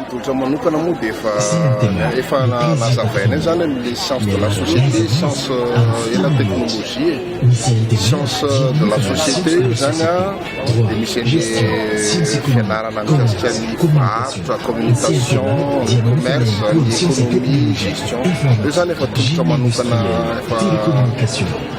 Tolotra manokana moa dia efa efa nazavaina eo zany amin'ny science de la société, science euh, ela technologie, science euh, de la société io zany a dia misy an'ny fianarana mikasika ny varotra, communication, commerce, ny économie, gestion. Io zany efa tolotra manokana efa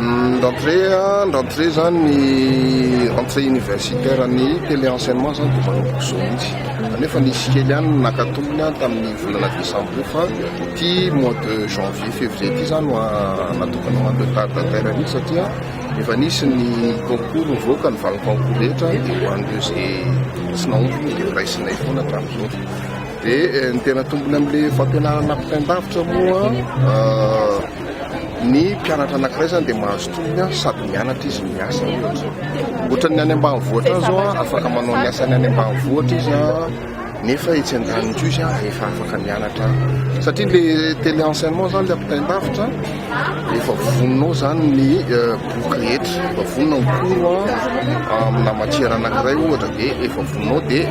Ny rentrée a, ny rentrée zany ny rentrée universitaire ny télé enseignement zany dia manomboka izao mihitsy. Kanefa nisy kely ihany ny naka tombony a tamin'ny volana décembre io fa ity mois de janvier, février ity zany no natokana ho an'ny retardataire mihitsy satria efa nisy ny concours nivoaka ny valim-concours rehetra dia ho an'ireo izay tsy nahomby moa dia horaisinay foana hatramin'izao. Dia ny tena tombony amin'ilay fampianarana ampitain-davitra moa Ny mpianatra anankiray izany dia mahazo tombony sady mianatra izy no miasa ohatra. Ohatran'ny any ambanivohitra any izao afaka manao ny asany any ambanivohitra izy nefa etsy an-daniny koa izy efa afaka mianatra satria le télé enseignement izany le ampitain-davitra efa voninao izany ny euh, boky rehetra efa vonona ny koro amina matière anankiray ohatra dia efa voninao dia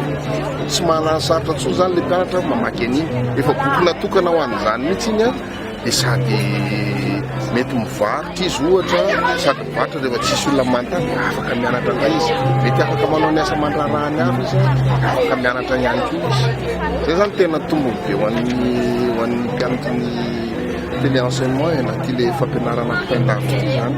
tsy manana sarotra tsoa izany le mpianatra mamaky an'iny efa boky natokana ho an'izany mihitsy iny dia sady mety mivarotra izy ohatra sady mivarotra rehefa tsisy olona manontany dia afaka mianatra indray izy mety afaka manao ny asa aman-draharahany hafa izy afaka mianatra ihany koa izy zay izany tena tombony be ho an'ny ho an'ny mpianatra ny tele enseignement na tele fampianarana ampitain-davitra ity izany